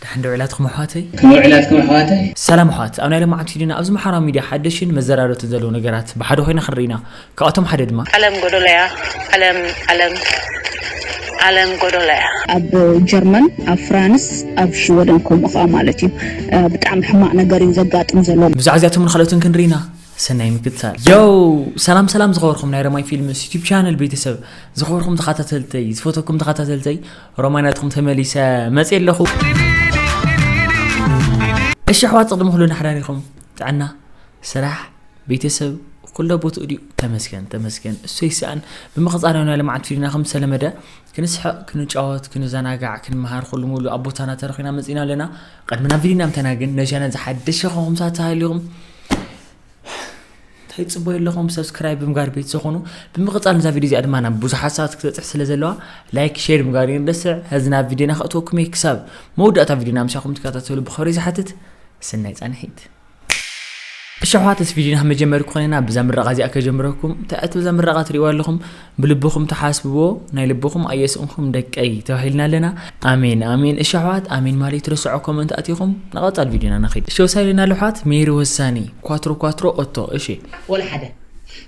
ደሓን ዶ ውዒላትኩም ኣሕዋተይ? ከመይ ውዒላትኩም ኣሕዋተይ? ሰላም ኣሕዋት፣ ኣብ ናይ ሎማዓንቲ ቪድዮና ኣብዚ ማሕበራዊ ሚድያ ሓደሽን መዘራረብትን ዘለዉ ነገራት ብሓደ ኮይና ክንርኢ ኢና። ካብኣቶም ሓደ ድማ። ዓለም ጎዶሎ እያ ዓለም ዓለም ዓለም ጎዶሎ እያ። ኣብ ጀርመን ኣብ ፍራንስ ኣብ ሽወደን ከምኡ ከኣ ማለት እዩ ብጣዕሚ ሕማቅ ነገር እዩ ዘጋጥም ዘሎ። ብዛዕባ እዚኣቶምን ካልኦትን ክንርኢ ኢና። ሰናይ ምክትታል። ዮው ሰላም ሰላም ዝኸበርኩም ናይ ረማይ ፊልምስ ዩቲብ ቻነል ቤተሰብ ዝኸበርኩም ተኸታተልተይ ዝፈተኩም ተኸታተልተይ ረማይ ናትኩም ተመሊሰ መፅየ ኣለኹ እሺ ኣሕዋት ቅድሚ ኩሉ ናሕዳሪኹም ጥዕና ስራሕ ቤተሰብ ኩሎ ቦትኡ ድዩ ተመስገን ተመስገን እሱ ይስኣን ብምቕፃል ናይ ልምዓት ፊልና ከም ዝተለመደ ክንስሕቕ ክንጫወት ክንዘናጋዕ ክንመሃር ኩሉ ሙሉ ኣብ ቦታና ተረኺና መፂና ኣለና ቐድሚ ናብ ቪድዮና ምተና ግን ነዚ ቻነል ዝሓደሸ ኸኹም ሳት ተሃሊኹም እንታይ ጽበዩ ኣለኹም ሰብስክራይብ ብምጋር ቤት ዝኾኑ ብምቕጻል ነዛ ቪድዮ እዚኣ ድማ ናብ ብዙሓት ሰባት ክትበጽሕ ስለ ዘለዋ ላይክ ሼር ምጋር ይንደስዕ ሕዚ ናብ ቪድዮና ከእትወኩም እየ ክሳብ መወዳእታ ቪድዮና ምሳኹም ትከታተሉ ብኸሪ ዝሓትት ስናይ ጻንሒት እሺ ኣሕዋት እዚ ቪድዮና መጀመሪ ኮይና ብዛ ምረቓ እዚኣ ከጀምረኩም ትዕት ብዛ ምረቓ ትሪእዋ ኣለኹም ብልብኹም ትሓስብዎ ናይ ልብኹም ኣየስእንኩም ደቀይ ተባሂልና ኣለና ኣሜን ኣሜን እሺ ኣሕዋት ኣሜን ማለት ትረስዖ ኮመንት ኣቲኹም ንቐፃል ቪድዮና ንኸይድ እሺ ወሳኒ ኣለና ኣሕዋት ሜሪ ወሳኒ ኳትሮ ኳትሮ ኦቶ እሺ ወላ ሓደ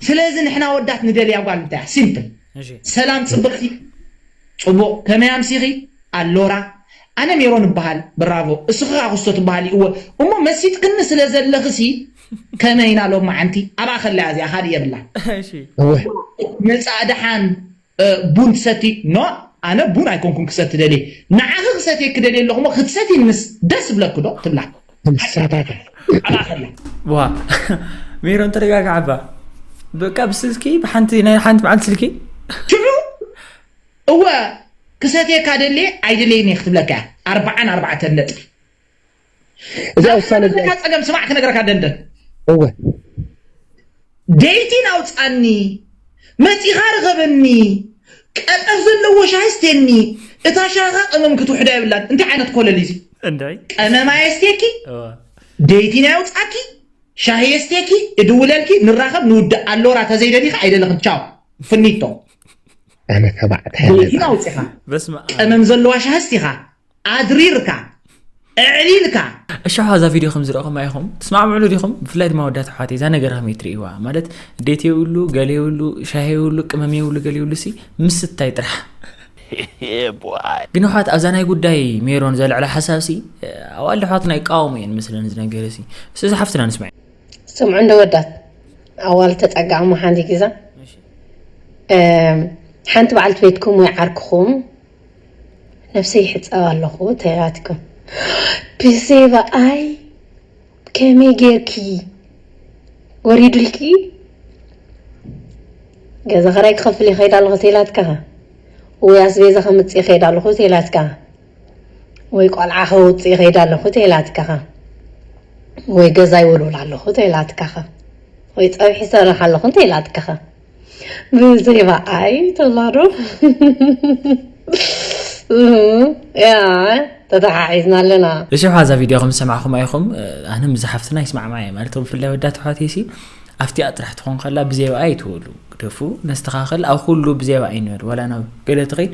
ስለዚ ንሕና ወዳት ንደልያ ጓል እንታይ እያ ሲምፕል ሰላም ፅብቕቲ ፅቡቕ ከመይ ኣምሲኺ ኣሎራ ኣነ ሜሮን እባሃል ብራቮ እስኺ ከኣ ኩስቶ ትባሃሊ እወ እሞ መሲጥክኒ ስለ ዘለኺ ሲ ከመይ ኢና ሎማዓንቲ ኣብኣ ከለያ እዚኣ ካልእ የብላን እሺ እወ መጻእ ደሓን ቡን ትሰቲ ኖእ ኣነ ቡን ኣይኮንኩን ክሰቲ ደልየ ንዓኺ ክሰትየኪ ደልየ ኣለኹ እሞ ክትሰትይንስ ደስ ይብለኪ ዶ ትብላ ትሳታታ ኣብኣ ከለያ ዋ ሜሮን ተረጋግዓ እባ በቃ ብስልኪ ብሓንቲ ናይ ሓንቲ መዓልቲ ስልኪ ሽዑ እወ ክሰትየካ ደልየ ኣይደለይን እየ ክትብለካ እያ ኣርብዓን ኣርባዕተን ነጥቢ እዚኣ ናብቲ ውሳነ እዚኣ ዘለካ ጸገም ስማዕ ክነግረካ ደንደን እወ ደይቲን ኣውጻኒ መጺኻ ርኸበኒ ቀጠፍ ዘለዎ ሻሂ ስቴኒ እታ ሻህኻ ቀመም ክትውሕዳ የብላን እንታይ ዓይነት ኮለል እዩ እዚ እንታይ ቀመም ኣየስቴኪ እወ ደይቲን ኣየውጻኪ ሻሂ የስቴኪ እድውለልኪ ንራኸብ ንውዳእ ኣሎራ ተዘይደሊኺ ኣይደለኽን ቻው ፍኒቶ ኣነ ተባዕታይ ለይቲ ኣውፂኻ ቀመም ዘለዋ ሻህስቲኻ ኣድሪርካ እዕሊልካ እሻሓ እዛ ቪድዮ ከም ዝረእኹም ኣይኹም ትስማዕምዕሉ ዲኹም ብፍላይ ድማ ወዳት ኣሕዋት እዛ ነገር ከመይ ትርእይዋ ማለት ዴት የብሉ ገለ የብሉ ሻሂ የብሉ ቅመም የብሉ ገለ የብሉ ሲ ምስታይ ጥራሕ ግን ኣሕዋት ኣብዛ ናይ ጉዳይ ሜሮን ዘልዕላ ሓሳብ ሲ ኣዋል ኣሕዋትና ይቃወሙ እየን ምስለን ዝነገረ ሲ እዚ ሓፍትና ንስማዕ ስምዑ እንደ ወዳት ኣዋል ተጸጋዕሞ ሓንቲ ግዛ ሓንቲ በዓልቲ ቤትኩም ወይ ዓርክኹም ነፍሰይ ይሕጸብ ኣለኹ ተላትኩም ብዘይባ ኣይ ከመይ ጌርኪ ወሪዱልኪ ገዛ ኸራይ ክኸፍል ይኸይድ ኣለኹ ተላትካ ወይ ኣስቤዛ ከምጽእ ይኸይድ ኣለኹ ተላትካ ወይ ቆልዓ ከውጽእ ይኸይድ ኣለኹ ተይላትካኸ? ወይ ገዛ ይውልውል ኣለኹ ተይላትካኸ? ወይ ጸብሒ ይሰርሕ ኣለኹ እንተይላትካኸ? ብዘይ በኣይ ትብላዶ? ያ ተተሓሒዝና ኣለና። በዚሑ እዛ ቪድዮ ከም ዝሰማዕኹማ ኢኹም ኣነ ምስ ሓፍትና ይስማዕማዕ እየ ማለት ብፍላይ ወዳ ተሕዋተይ ሲ ኣብቲኣ ጥራሕ ትኾን ከላ ብዘይ በኣይ ትበሉ ግደፉ ነስተኻኸል ኣብ ኩሉ ብዘይ በኣይ ንበል ዋላ ናብ ገለ ትኸይድ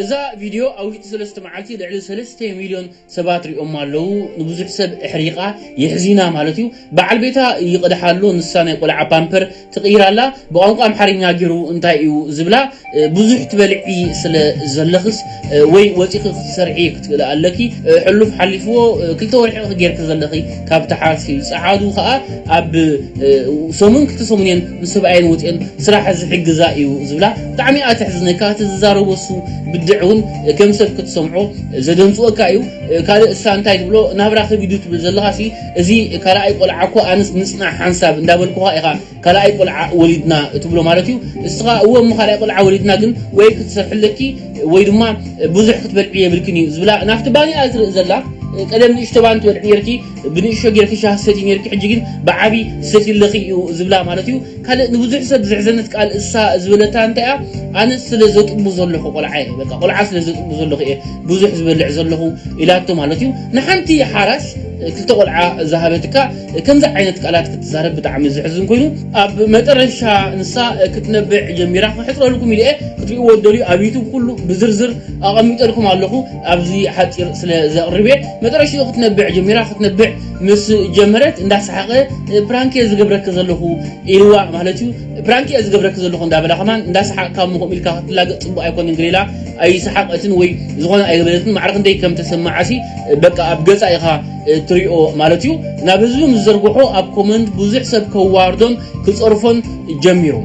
እዛ ቪድዮ ኣብ ውሽጢ ሰለስተ መዓልቲ ልዕሊ ሰለስተ ሚልዮን ሰባት ሪኦማ ኣለዉ። ንብዙሕ ሰብ ኣሕሪቃ፣ የሕዚና ማለት እዩ። በዓል ቤታ ይቅድሓ ኣሎ፣ ንሳ ናይ ቆልዓ ፓምፐር ትቅይር ኣላ። ብቋንቋ ኣምሓርኛ ጌሩ እንታይ እዩ ዝብላ? ብዙሕ ትበልዒ ስለ ዘለኽስ ወይ ወጺኺ ክትሰርሒ ክትክእሊ ኣለኪ። ሕሉፍ ሓሊፍዎ ክልተ ወርሒ'ኺ ጌርኪ ዘለኺ። ካብ ተሓዝኪ ጸዓዱ ከኣ ኣብ ሰሙን ክልተ ሰሙን እየን ምስ ሰብኣየን ወጺኤን ስራሕ ዝሕግዛ እዩ ዝብላ ብጣዕሚ እያ ተሕዝነካ እቲ ዝዛረቦ እሱ ብድዕ እውን ከም ሰብ ክትሰምዖ ዘደንጽወካ እዩ ካልእ እሳ እንታይ ትብሎ ናብራ ከቢዱ ትብል ዘለኻሲ እዚ ካልኣይ ቆልዓ እኮ ኣንስ ንጽናሕ ሓንሳብ እንዳበልኩኻ ኢኻ ካልኣይ ቆልዓ ወሊድና ትብሎ ማለት እዩ እስኻ እወ እሞ ካልኣይ ቆልዓ ወሊድና ግን ወይ ክትሰርሒ ኣለኪ ወይ ድማ ብዙሕ ክትበልዒ የብልክን እዩ ዝብላ ናብቲ ባኒኣ ዝርኢ ዘላ ቀደም ንእሽቶ ባን ትበልዒ ነርኪ ብንእሽቶ ጌርኪ ሻህ ሰቲ ነርኪ ሕጂ ግን ብዓቢ ሰቲ ኣለኺ እዩ ዝብላ ማለት እዩ ካልእ ንብዙሕ ሰብ ዘሕዘነት ቃል እሳ ዝበለታ እንታይ እያ ኣነ ስለ ዘጥቡ ዘለኹ ቆልዓ እየ በቃ ቆልዓ ስለ ዘጥቡ ዘለኹ እየ ብዙሕ ዝበልዕ ዘለኹ ኢላቶ ማለት እዩ ንሓንቲ ሓራስ ክልተ ቆልዓ ዝሃበትካ ከምዚ ዓይነት ቃላት ክትዛረብ ብጣዕሚ ዝሕዝን ኮይኑ ኣብ መጠረሻ ንሳ ክትነብዕ ጀሚራ ክሕጽረልኩም ኢለ ክትሪእዎ ትደልዩ ኣብ ዩቱብ ኩሉ ብዝርዝር ኣቐሚጠልኩም ኣለኹ ኣብዚ ሓጺር ስለ ዘቕርብ እየ መጠረሽኡ ክትነብዕ ጀሚራ ክትነብዕ ምስ ጀመረት እንዳሰሓቐ ፕራንክ እየ ዝገብረኪ ዘለኹ ኢልዋ ማለት እዩ ፕራንክ እየ ዝገብረኪ ዘለኹ እንዳበላ ከማን እንዳሰሓቕካ እሞ ከምኡ ኢልካ ክትላገጽ ጽቡቕ ኣይኮነን ገለ ኢላ ኣይሰሓቐትን ወይ ዝኾነ ኣይበለትን ማዕረ ክንደይ ከም ተሰማዓሲ በቃ ኣብ ገጻ ኢኻ እትሪኦ ማለት እዩ ናብ ህዝቢ ምስ ዘርግሖ ኣብ ኮመንት ብዙሕ ሰብ ከዋርዶን ክጸርፎን ጀሚሩ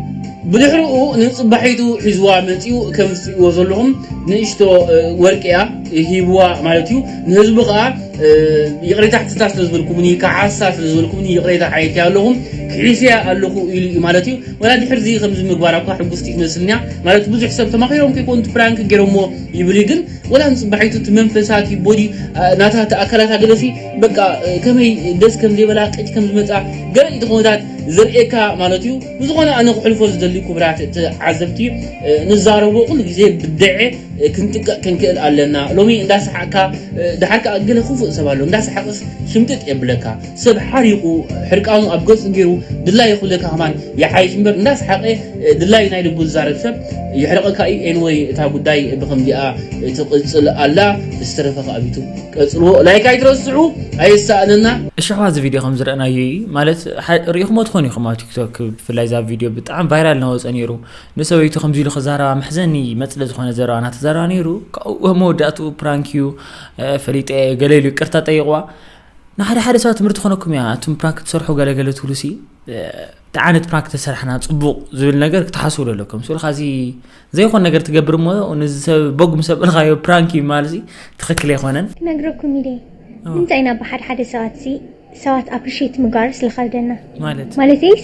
ብድሕርኡ ንጽባሒቱ ሒዝዋ መጺኡ ከምዚ ትሪእዎ ዘለኹም ንእሽቶ ወርቂ እያ ሂብዋ ማለት እዩ ንህዝቢ ከኣ ይቕሬታ ሕትታ ስለ ዝበልኩምኒ ከሓሳ ስለ ዝበልኩምኒ ይቕሬታ ሓየትያ ኣለኹ ክሒስያ ኣለኹ ኢሉ እዩ ማለት እዩ ወላ ድሕርዚ ከምዚ ምግባራ እኳ ሕጉስቲ ትመስልንያ ማለት ብዙሕ ሰብ ተማኺሮም ከይኮኑ ፕራንክ ገይሮሞ ይብል እዩ ግን ወላ ንጽባሒቱ እቲ መንፈሳ እቲ ቦዲ ናታ እቲ ኣካላታ ገለሲ በቃ ከመይ ደስ ከም ዘይበላ ቅጭ ከም ዝመጻ ገለ ኢቲ ኮመታት ዘርእየካ ማለት እዩ ብዝኾነ ኣነ ክሕልፎ ዝደሊ ኩብራት ተዓዘብቲ ንዛረቦ ኩሉ ግዜ ብደዐ ክንጥቀቅ ክንክእል ኣለና ሎሚ እንዳሰሓቅካ ድሓር ከኣ ገለ ክፉእ ሰብ ኣሎ እንዳሰሓቅስ ሽምጥጥ የብለካ ሰብ ሓሪቁ ሕርቃኑ ኣብ ገጹ ጌሩ ድላዩ ክብለካ ከማን ይሓይሽ እምበር እንዳስሓቀ ድላዩ ናይ ልቡ ዝዛረብ ሰብ የሕርቀካ እዩ anyway እታ ጉዳይ ብከምዚኣ ትቅጽል ኣላ ዝተረፈ ከኣ ብ ዩቱብ ቀጽልዎ like ኣይትረስዑ ኣየሳእነና። እሽሕዋ እዚ ቪድዮ ከም ዝረእናዮ እዪ ማለት ሪኢክሞ ትኮኑ ኢኩም ኣብ ቲክቶክ ብፍላይ እዛ ቪድዮ ብጣዕሚ ቫይራል ናወጸ ኔሩ ንሰበይቱ ከምዚ ኢሉ ክዛረባ መሕዘኒ መጽለ ዝኮነ ዘረባ ናተዛረባ ኔሩ ካብኡ መወዳእትኡ ፕራንክ እዩ ፈሊጠ እየ ገለ ኢሉ ይቅርታ ጠይቅዋ ንሓደ ሓደ ሰባት ትምህርቲ ኾነኩም እያ እቱም ፕራንክ ትሰርሑ ገለ ገለ ትብሉ ሲ እንታይ ዓይነት ፕራንክ ተሰርሕና ፅቡቕ ዝብል ነገር ክትሓስቡ ዶ ኣለኩም ስልካ እዚ ዘይኮን ነገር ትገብር እሞ ንዚ ሰብ ቦግ ምስ ኣበልካዮ ፕራንክ እዩ ማለት ትኽክል ኣይኮነን ክነግረኩም ኢለ ንምንታይ ኢና ብሓደ ሓደ ሰባት ሲ ሰባት ኣፕሪሽት ምግባር ስለኸብደና ማለት ማለተይስ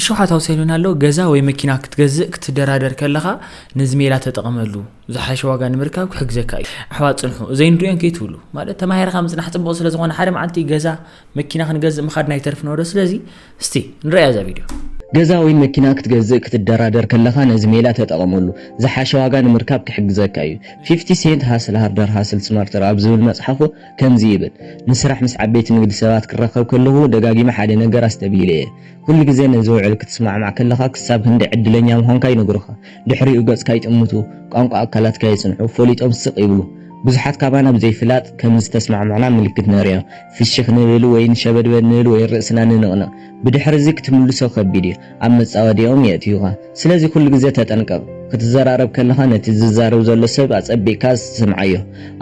እሾኻት ኣውሰሉኒ ኣሎ። ገዛ ወይ መኪና ክትገዝእ ክትደራደር ከለኻ ነዚ ሜላ ተጠቐመሉ። ዝሓሸ ዋጋ ንምርካብ ክሕግዘካ እዩ። ኣሕዋት ጽንሑ፣ ዘይንርእዮን ከይትብሉ። ማለት ተማሂርካ ምጽናሕ ጽቡቕ ስለ ዝኾነ ሓደ መዓልቲ ገዛ፣ መኪና ክንገዝእ ምኻድና ኣይተርፍን'ዶ? ስለዚ እስቲ ንርእያ እዛ ቪድዮ። ገዛ ወይ መኪና ክትገዝእ ክትደራደር ከለኻ ነዚ ሜላ ተጠቐመሉ። ዝሓሸ ዋጋ ንምርካብ ክሕግዘካ እዩ። ፊፍቲ ሴንት ሃስል ሃርደር ሃስል ስማርተር ኣብ ዝብል መጽሓፉ ከምዚ ይብል፣ ንስራሕ ምስ ዓበይቲ ንግዲ ሰባት ክራኸብ ከለኹ ደጋጊመ ሓደ ነገር ኣስተብሂለ እየ። ኩሉ ግዜ ነዚ ውዕል ክትስማዕማዕ ከለኻ ክሳብ ክንደይ ዕድለኛ ምዃንካ ይነግሩኻ። ድሕሪኡ ገጽካ ይጥምቱ፣ ቋንቋ ኣካላትካ የጽንዑ፣ ፈሊጦም ስቕ ይብሉ። ብዙሓት ካባና ብዘይፍላጥ ከም ዝተስማዕማዕና ምልክት ነርእዮም። ፍሽኽ ንብል ወይ ንሸበድበድ ንብል ወይ ርእስና ንንቕንቕ። ብድሕርዚ ክትምልሶ ከቢድ እዩ። ኣብ መጻወድያኦም የእትዩኻ። ስለዚ ኩሉ ግዜ ተጠንቀቕ። ክትዘራረብ ከለኻ ነቲ ዝዛረብ ዘሎ ሰብ ኣጸቢቕካ ስምዓዮ፣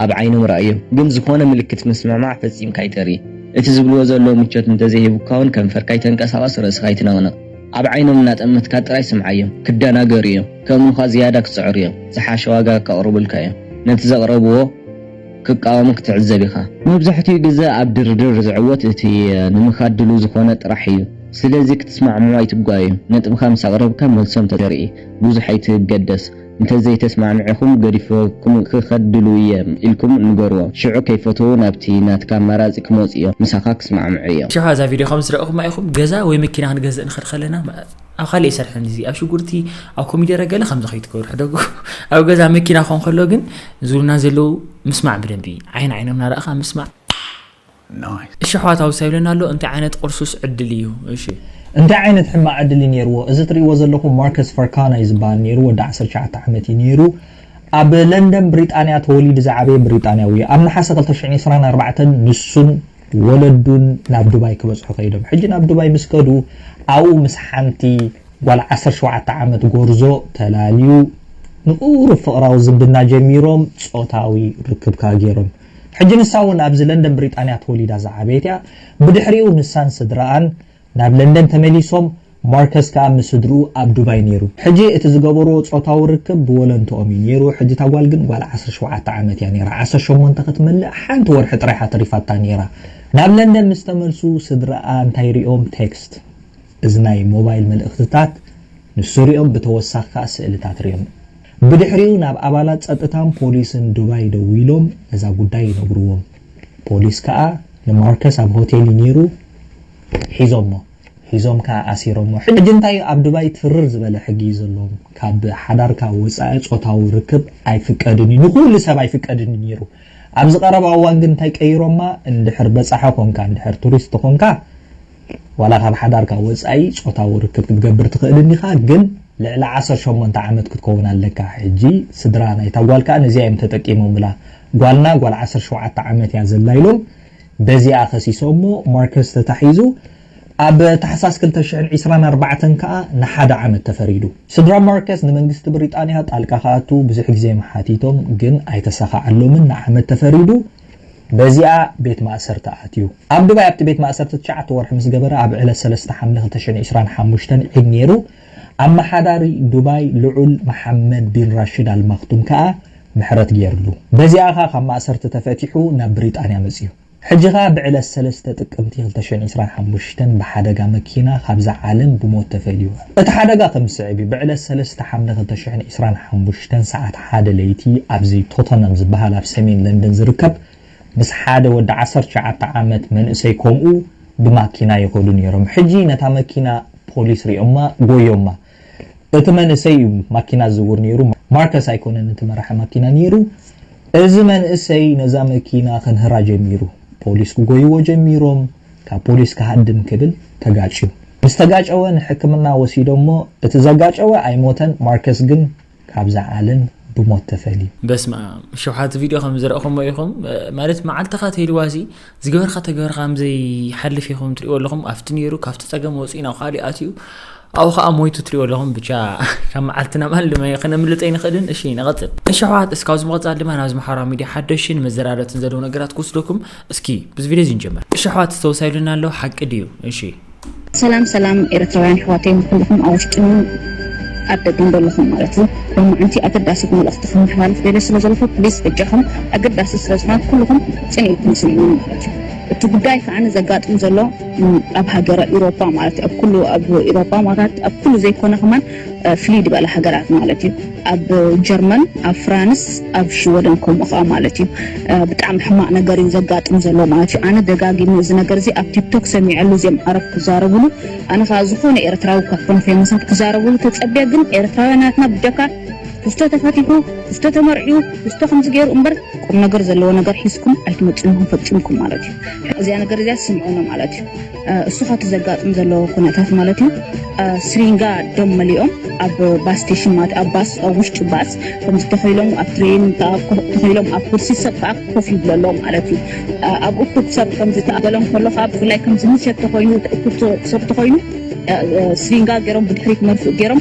ኣብ ዓይኖም ርኣዮም። ግን ዝኾነ ምልክት ምስምማዕ ፈጺምካ ኣይተርኢ። እቲ ዝብልዎ ዘለዉ ምቾት እንተዘይሂቡካ'ውን ከንፈርካ ኣይተንቀሳቕስ፣ ርእስኻ ኣይትነቕንቕ። ኣብ ዓይኖም እናጠመትካ ጥራይ ስምዓዮም። ክደናገሩ'ዮም። ከእምኑኻ ዝያዳ ክጽዕሩ'ዮም። ዝሓሸ ዋጋ ከቕርቡልካ'ዮም። ነቲ ዘቕረብዎ። ክቃወሙ ክትዕዘብ ኢኻ። መብዛሕትኡ ግዘ ኣብ ድርድር ዝዕወት እቲ ንምኻድ ድሉው ዝኾነ ጥራሕ እዩ። ስለዚ ክትስማዕምዑ ኣይትጓየዩ። ነጥብኻ ምስ ኣቕረብካ መልሶም ተርኢ። ብዙሕ ኣይትገደስ። እንተዘይተስማዕሚዕኹም ገዲፈኩም ክኸድ ድሉው እየ ኢልኩም ንገርዎም። ሽዑ ከይፈተዉ ናብቲ ናትካ ኣማራፂ ክመፁ እዮም። ምሳኻ ክስማዕምዑ እዮም። ሽዑ እዛ ቪድዮ ከምዝረኣኹማ ኢኹም ገዛ ወይ መኪና ክንገዝእ ንኸድ ከለና። ኣብ ካልእ ኣይሰርሕን እዚ ኣብ ሽጉርቲ ኣብ ኮሚደረ ገለ ከምዚ ከይትገብሩ ሕደጉ ኣብ ገዛ መኪና ኮን ከሎ ግን ዝብሉና ዘለዉ ምስማዕ ብደንቢ ዓይን ዓይኖም ናረእኻ ምስማዕ እሺ ኣሕዋት ውሳ ይብለና ኣሎ እንታይ ዓይነት ቁርሱስ ዕድል እዩ እሺ እንታይ ዓይነት ሕማቅ ዕድል እዩ ኔርዎ እዚ ትሪእዎ ዘለኹም ማርከስ ፈርካና እዩ ዝብሃል ኔሩ ወዲ ዓሰርተ ትሽዓተ ዓመት እዩ ኔሩ ኣብ ለንደን ብሪጣንያ ተወሊዱ ዝዓበየ ብሪጣንያዊ እዩ ኣብ ነሓሰ ክልተ ሽሕን ዕስራን ኣርባዕተን ንሱን ወለዱን ናብ ዱባይ ክበጽሑ ከይዶም። ሕጂ ናብ ዱባይ ምስ ከዱ ኣብኡ ምስ ሓንቲ ጓል ዓሰርተ ሸውዓተ ዓመት ጎርዞ ተላልዩ ንቁሩብ ፍቕራዊ ዝምድና ጀሚሮም ጾታዊ ርክብ ከኣ ጌሮም። ሕጂ ንሳ እውን ኣብዚ ለንደን ብሪጣንያ ተወሊዳ ዝዓበየት እያ። ብድሕሪኡ ንሳን ስድራኣን ናብ ለንደን ተመሊሶም፣ ማርከስ ከኣ ምስ ስድርኡ ኣብ ዱባይ ነይሩ። ሕጂ እቲ ዝገበርዎ ጾታዊ ርክብ ብወለንትኦም እዩ ነይሩ፣ ሕጂ እታ ጓል ግን ጓል ዓሰርተ ሸውዓተ ዓመት እያ ነይራ፣ ዓሰርተ ሸሞንተ ክትመልእ ሓንቲ ወርሒ ጥራይ እያ ተሪፋታ ነይራ። ናብ ለንደን ምስ ተመልሱ ስድርኣ እንታይ ሪኦም ቴክስት፣ እዚ ናይ ሞባይል መልእኽትታት፣ ንሱ ሪኦም ብተወሳኺ ከኣ ስእልታት ሪኦም። ብድሕሪኡ ናብ ኣባላት ጸጥታን ፖሊስን ዱባይ ደዊሎም ነዛ ጉዳይ ይነግርዎም። ፖሊስ ከኣ ንማርከስ ኣብ ሆቴል እዩ ኔሩ ሒዞሞ ሒዞም ከኣ ኣሲሮሞ ሕጂ እንታይ እዩ ኣብ ዱባይ ትርር ዝበለ ሕጊ እዩ ዘለዎም ካብ ሓዳርካ ወጻኢ ጾታዊ ርክብ ኣይፍቀድን እዩ ንኩሉ ሰብ ኣይፍቀድን እዩ ኔሩ ኣብዚ ቀረባ እዋን ግን እንታይ ቀይሮማ እንድሕር በጻሒ ኮንካ እንድሕር ቱሪስት ኮንካ ዋላ ካብ ሓዳርካ ወጻኢ ጾታዊ ርክብ ክትገብር ትኽእል እንዲኻ ግን ልዕሊ ዓሰርተ ሸሞንተ ዓመት ክትከውን ኣለካ ሕጂ ስድራ ናይታ ጓል ከኣ ነዚኣ እዮም ተጠቂሞምላ ጓልና ጓል ዓሰርተ ሸውዓተ ዓመት እያ ዘላ ኢሎም በዚኣ ከሲሶሞ ማርከስ ተታሒዙ ኣብ ታሕሳስ ክልተ ሽሕን ዕስራን ኣርባዕተን ከኣ ንሓደ ዓመት ተፈሪዱ። ስድራ ማርከስ ንመንግስቲ ብሪጣንያ ጣልቃ ክኣቱ ብዙሕ ግዜ ሓቲቶም ግን ኣይተሳኻዓሎምን ንዓመት ተፈሪዱ። በዚኣ ቤት ማእሰርቲ ኣትዩ። ኣብ ዱባይ ኣብቲ ቤት ማእሰርቲ ትሽዓተ ወርሒ ምስ ገበረ ኣብ ዕለት ሰለስተ ሓምለ ክልተ ሽሕን ዕስራን ሓሙሽተን ዒድ ነይሩ። ኣመሓዳሪ ዱባይ ልዑል መሓመድ ቢን ራሽድ ኣል ማክቱም ከኣ ምሕረት ገይርሉ። በዚኣ ከኣ ካብ ማእሰርቲ ተፈቲሑ ናብ ብሪጣንያ መጺኡ። ሕጂ ከኣ ብዕለት ሰለስተ ጥቅምቲ ክልተ ሽሕን ዕስራን ሓሙሽተን ብሓደጋ መኪና ካብዛ ዓለም ብሞት ተፈልዩ። እቲ ሓደጋ ከም ዝስዕብ እዩ፣ ብዕለት ሰለስተ ሓምለ ክልተ ሽሕን ዕስራን ሓሙሽተን ሰዓት ሓደ ለይቲ ኣብዚ ቶተንሃም ዝበሃል ኣብ ሰሜን ለንደን ዝርከብ ምስ ሓደ ወዲ ዓሰርተ ትሽዓተ ዓመት መንእሰይ ከምኡ ብማኪና ይኸዱ ነይሮም ሕጂ ነታ መኪና ፖሊስ ሪኦማ ጎዮማ እቲ መንእሰይ እዩ ማኪና ዝዝውር ነይሩ ማርከስ ኣይኮነን እቲ መራሒ ማኪና ነይሩ እዚ መንእሰይ ነዛ መኪና ክንህራ ጀሚሩ ፖሊስ ክጎይዎ ጀሚሮም ካብ ፖሊስ ክሃድም ክብል ተጋጭዩ ምስ ተጋጨወ ንሕክምና ወሲዶሞ እቲ ዘጋጨወ ኣይሞተን ማርከስ ግን ካብዛ ዓለም ብሞት ተፈልዩ። በስመኣም ሸውሓት ቪድዮ ከም ዝረእኹሞ ኢኹም ማለት መዓልትኻ ትህልዋ ሲ ዝገበርካ ተገበርካ ከም ዘይሓልፍ ኢኹም ትሪእዎ ኣለኹም ኣብቲ ነይሩ ካብቲ ጸገም ወጺኡ ናብ ኻሊእ ኣትዩ ኣብኡ ከዓ ሞይቱ ትሪእዎ ኣለኹም ብቻ ካብ መዓልቲ ናብ ኣልመ ክነምልጥ ኣይንኽእልን እሺ ንቐጽል እሺ ኣሕዋት እስካብ ዝምቐጻል ድማ ናብ ዝመሓራ ሚድያ ሓደሽን መዘራረብትን ዘለዉ ነገራት ክወስደኩም እስኪ ብዚ ቪድዮ እዚ ንጀምር እሺ ኣሕዋት ዝተወሳዩ ኢሉና ኣሎ ሓቂ ድዩ እሺ። ሰላም ሰላም ኤረትራውያን ኣሕዋተይ ንኩሉኩም ኣብ ውሽጥን ኣብ ደገን ደለኩም ማለት እዩ ሎማዓንቲ ኣገዳሲት መልእክቲ ከመሓላልፍ ደልየ ስለ ዘለኩ ፕሊስ በጃኩም ኣገዳሲት ስለ ዝኮነት ኩሉኩም ጽን ኢልኩም ስምዑኒ ማለት እዩ እቲ ጉዳይ ከዓኒ ዘጋጥም ዘሎ ኣብ ሃገረ ኢሮፓ ማለት እዩ ኣብ ኩሉ ኣብ ኢሮፓ ማለት ኣብ ኩሉ ዘይኮነ ከማን ፍልይ ድበለ ሃገራት ማለት እዩ ኣብ ጀርመን ኣብ ፍራንስ ኣብ ሽወደን ከምኡ ከኣ ማለት እዩ ብጣዕሚ ሕማቅ ነገር እዩ ዘጋጥም ዘሎ ማለት እዩ ኣነ ደጋጊመ እዚ ነገር እዚ ኣብ ቲክቶክ ሰሚዐሉ እዚኦም ዓረብ ክዛረብሉ ኣነ ከኣ ዝኮነ ኤርትራዊ ካብ ኮነ ፌመሳት ክዛረብሉ ተጸብያ ግን ኤርትራውያን ናትና ብጀካ ክስቶ ተፈቲሑ ክስቶ ተመርዕዩ ክስቶ ከምዚ ገይሩ እምበር ቁም ነገር ዘለዎ ነገር ሒዝኩም ኣይትመጽኡን ፈጺምኩም ማለት እዩ እዚኣ ነገር እዚኣ ስምዑኒ ማለት እዩ እሱ ካብቲ ዘጋጥም ዘሎ ኩነታት ማለት እዩ ስሪንጋ ደም መሊኦም ኣብ ባስ ስቴሽን ማለት ኣብ ባስ ኣብ ውሽጢ ባስ ከምዚ ተኸኢሎም ኣብ ትሬን ተኸኢሎም ኣብ ኩርሲ ሰብ ከዓ ኮፍ ይብሎ ኣሎ ማለት እዩ ኣብ እኩብ ሰብ ከምዚ ተኣበሎም ከሎ ከዓ ብፍላይ ከምዚ ምሸት ተኮይኑ እኩብ ሰብ ተኮይኑ ስሪንጋ ገይሮም ብድሕሪት መርፍእ ገይሮም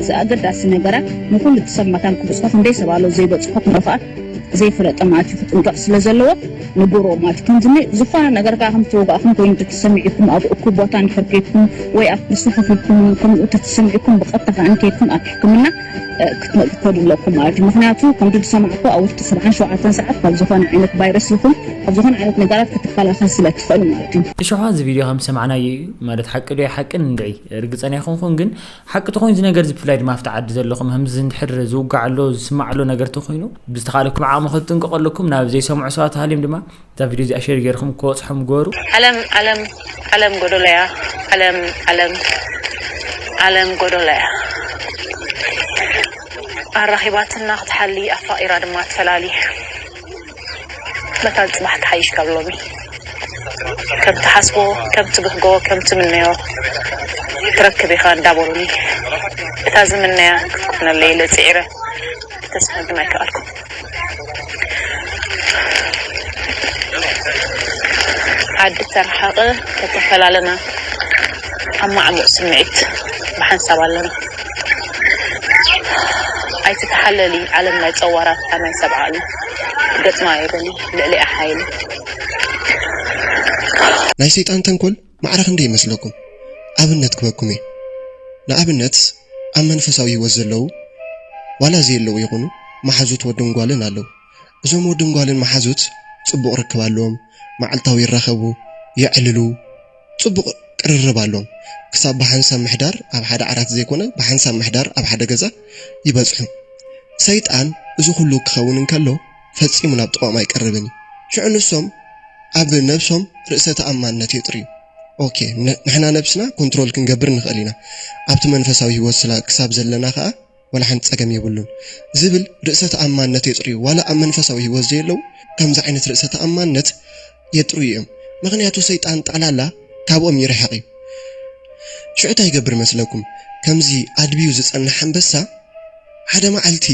እዚ ኣገዳሲ ነገራት ንኹሉ እቲ ሰብ መታን ክብጽሖ ክንደይ ሰብ ኣሎ ዘይበጽሖ ከምኡ ከኣ ዘይፈለጠ ማለት እዩ ክጥንቀቕ ስለ ዘለዎ ንገርዎ ማለት እዩ ከምዚ ን ዝኾነ ነገር ከኣ ከም ዝተወጋእኹም ኮይኑ ተተሰሚዕኩም ኣብ እኩብ ቦታ እንድሕር ከይድኩም ወይ ኣብ ቁርሲ ከፍ ኢልኩም ከምኡ ተተሰሚዕኩም ብቐጥታ ከኣ ከይድኩም ኣብ ሕክምና ክትመ ክትከዱ ኣለኩም ማለት እዩ ምኽንያቱ ከምዚ ዝሰማዕኩ ኣብ ውሽጢ ሰብዓን ሸውዓተን ሰዓት ካብ ዝኾነ ዓይነት ቫይረስ ይኹን ካብ ዝኾነ ዓይነት ነገራት ክትከላኸል ስለ ትኽእል ማለት እዩ። እሾኻ እዚ ቪድዮ ከም ዝሰማዕናዮ እዩ ማለት ሓቂ ዶ ኣይሓቅን ንርዒ ርግጸና ኣይኮንኩን ግን ሓቂ ተኾይኑ እዚ ነገርዚ ብፍላይ ድማ ኣብቲ ዓዲ ዘለኹም ህምዚ እንድሕር ዝውጋዕ ኣሎ ዝስማዕ ኣሎ ነገር ተኾይኑ ብዝተኻለኩም ዓቕሚ ክትጥንቀቑ ኣለኩም ናብ ዘይሰምዑ ሰባት ሃልዮም ድማ እዛ ቪድዮ እዚኣ ሼር ጌርኹም ክበጽሖም ግበሩ። ዓለም ዓለም ዓለም ጎዶሎያ ዓለም ዓለም ዓለም ጎዶሎያ ኣራኺባትና ክትሓሊ ኣፋቒራ ድማ ትፈላሊ። መታን ጽባሕ ትሓይሽ ካብ ሎሚ ከም ትሓስቦ ከም ትብህጎ ከም ትምነዮ ትረክብ ኢኻ እንዳ በሉኒ እታ ዝምነያ ክትኮነለይ ኢለ ጽዒረ ተስፋ ግን ኣይከኣልኩን። ዓዲ ተረሓቐ ተተፈላለና ኣብ ማዕሙቕ ስምዒት ብሓንሳብ ኣለና። ኣይትተሓለሊ ዓለም ናይ ጸዋራታ ናይ ሰብዓ እዩ። ገጽና የብለይ ልዕሊኣ ሓይሊ። ናይ ሰይጣን ተንኮል ማዕረ ክንደይ ይመስለኩም? ኣብነት ክበኩም እየ ንኣብነት ኣብ መንፈሳዊ ሂወት ዘለዉ ዋላ ዘየለዉ ይኩኑ ማሓዙት ወድን ጓልን ኣለዉ እዞም ወድን ጓልን ማሓዙት ጽቡቅ ርክብ ኣለዎም ማዓልታዊ ይራከቡ የዕልሉ ጽቡቕ ቅርርብ ኣሎዎም። ክሳብ ብሓንሳብ ምሕዳር ኣብ ሓደ ዓራት ዘይኮነ ብሓንሳብ ምሕዳር ኣብ ሓደ ገዛ ይበጽሑ። ሰይጣን እዚ ኩሉ ክኸውን እንከሎ ፈጺሙ ናብ ጥቐኦም ኣይቀርብን እዩ። ሽዑ ንሶም ኣብ ነብሶም ርእሰ ተኣማንነት የጥርዩ። ኦኬ ንሕና ነብስና ኮንትሮል ክንገብር ንኽእል ኢና ኣብቲ መንፈሳዊ ህይወት ክሳብ ዘለና ከኣ፣ ዋላ ሓንቲ ጸገም የብሉን ዝብል ርእሰ ተኣማንነት የጽርዩ ዋላ ኣብ መንፈሳዊ ሂወት ዘየለው ከምዚ ዓይነት ርእሰ ተኣማንነት የጥርዩ እዮም ምክንያቱ ሰይጣን ጠቅላላ ካብኦም ይርሕቅ እዩ ሽዑ ታይ ይገብር መስለኩም ከምዚ ኣድብዩ ዝጸንሕ ኣንበሳ ሓደ መዓልቲ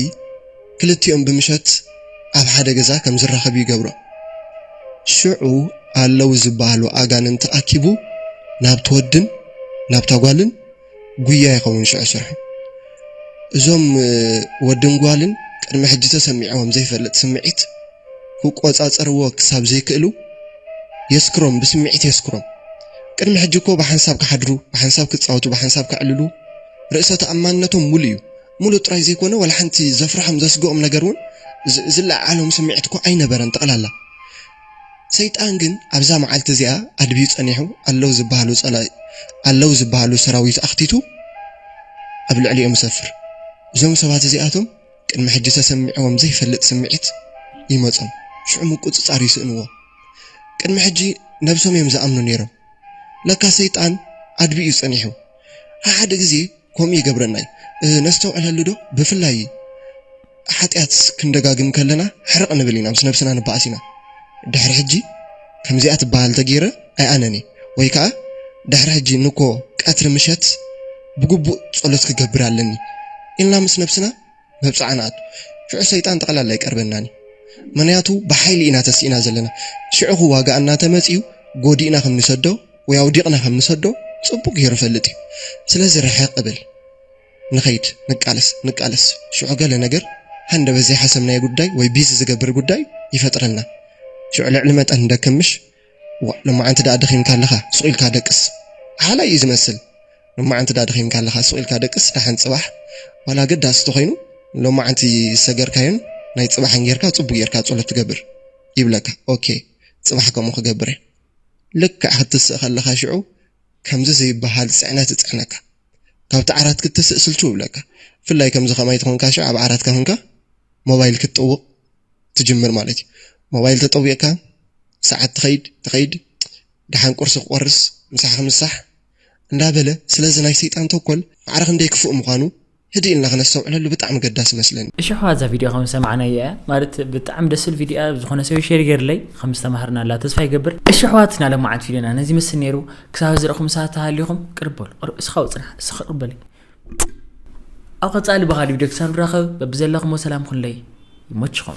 ክልቲኦም ብምሸት ኣብ ሓደ ገዛ ከም ዝራከቡ ይገብሮም ሽዑ ኣለው ዝበሃሉ ኣጋንንቲ ኣኪቡ ናብቲ ወድን ናብታ ጓልን ጉያ ይኸውን ሽዑ ስርሑ። እዞም ወድን ጓልን ቅድሚ ሕጂ ተሰሚዕዎም ዘይፈልጥ ስምዒት ክቆጻጸርዎ ክሳብ ዘይክእሉ የስክሮም ብስምዒት የስክሮም። ቅድሚ ሕጂ እኮ ብሓንሳብ ክሓድሩ ብሓንሳብ ክጻወቱ ብሓንሳብ ከዕልሉ ርእሰ ተኣማንነቶም ሙሉእ እዩ። ሙሉእ ጥራይ ዘይኮነ ዋላ ሓንቲ ዘፍርሖም ዘስግኦም ነገር ውን ዝለዓዓሎም ስምዒት እኮ ኣይነበረን ጠቕላላ። ሰይጣን ግን ኣብዛ መዓልቲ እዚኣ ኣድብዩ ጸኒሑ ኣለዉ ዝበሃሉ ጸላኢ ኣለዉ ዝበሃሉ ሰራዊት ኣኽቲቱ ኣብ ልዕሊኦም ይሰፍር። እዞም ሰባት እዚኣቶም ቅድሚ ሕጂ ተሰሚዕዎም ዘይፈልጥ ስምዒት ይመጾም ሽዑ ምቁጽጻር ይስእንዎ። ቅድሚ ሕጂ ነብሶም እዮም ዝኣምኑ ኔሮም። ለካ ሰይጣን ዓድቢ እዩ ጸኒሑ ሓሓደ ግዜ ከምኡ ይገብረና እዩ ነስተውዕለሉ ዶ ብፍላይ ሓጢኣት ክንደጋግም ከለና ሕርቅ ንብል ኢና ምስ ነብስና ንበኣስ ኢና ድሕሪ ሕጂ ከምዚኣ ትበሃል ተጌረ ኣይኣነን እየ ወይ ከኣ ድሕሪ ሕጂ ንኮ ቀትሪ ምሸት ብግቡእ ጸሎት ክገብር ኣለኒ ኢልና ምስ ነብስና መብጽዓ ንኣቱ ሽዑ ሰይጣን ጠቕላላ ኣይቀርበናን እዩ ምኽንያቱ ብሓይሊ ኢና ተሲእና ዘለና ሽዑኹ ዋጋ እናተመጽዩ ጎዲእና ከም ንሰዶ ወይ ኣውዲቕና ከም ንሰዶ ጽቡቕ ጌሩ ይፈልጥ እዩ ስለዚ ርሕቕ እብል ንኸይድ ንቃለስ ንቃለስ ሽዑ ገለ ነገር ሃንደበት ዘይሓሰብናዮ ጉዳይ ወይ ቢዚ ዝገብር ጉዳይ ይፈጥረልና ሽዑ ልዕሊ መጠን ንደክም ምሽ ዋእ ሎማዓንቲ ዳኣ ደኺምካ ኣለኻ ሱቕ ኢልካ ደቅስ ሓላይ እዩ ዝመስል ሎማዓንቲ ዳኣ ደኺምካ ኣለኻ ሱቕ ኢልካ ደቅስ ዳሓን ጽባሕ ዋላ ኣገዳሲ ተኾይኑ ሎማዓንቲ ዝሰገርካዮን ናይ ጽባሕን ጌርካ ጽቡቅ ጌርካ ጸሎት ትገብር ይብለካ ኦኬ ጽባሕ ከምኡ ክገብር እየ ልክዕ ክትስእ ከለኻ ሽዑ ከምዚ ዘይበሃል ጽዕነት ይጽዕነካ ካብቲ ዓራት ክትስእ ስልችው ይብለካ ብፍላይ ከምዚ ከማይ ተኾንካ ሽዑ ኣብ ዓራትካ ኮንካ ሞባይል ክትጥውቕ ትጅምር ማለት እዩ ሞባይል ተጠዊቅካ ሰዓት ትከይድ ትከይድ ደሓን ቁርሲ ክቆርስ ምሳ ክምሳሕ እንዳበለ ስለዚ ናይ ሰይጣን ተንኮል ማዕረ ክንደይ ክፉእ ምኳኑ ህድእ ኢልና ክነስተውዕለሉ ብጣዕሚ ገዳሲ ይመስለኒ። እሺ ኣሕዋት እዛ ቪድዮ ከም ዝሰማዕናያ እያ ማለት ብጣዕሚ ደስ ትብል ቪድዮ እያ ዝኾነ ሰብ ሼር ይገርለይ ከም ዝተማሃርናላ ተስፋ ይገብር እሺ ኣሕዋት ናይ ሎማዓንቲ ቪድዮና ነዚ ይመስል ነይሩ ክሳብ እዚ ረእኹም ሰባት ተሃሊኹም ቅርብ በሉ ቅርብ እስኻ ውፅና እስኻ ቅርብ በለይ ኣብ ቀፃሊ ብኻሊ ቪድዮ ክሳብ ንራኸብ በብዘለኹሞ ሰላም ኩንለይ ይመችኹም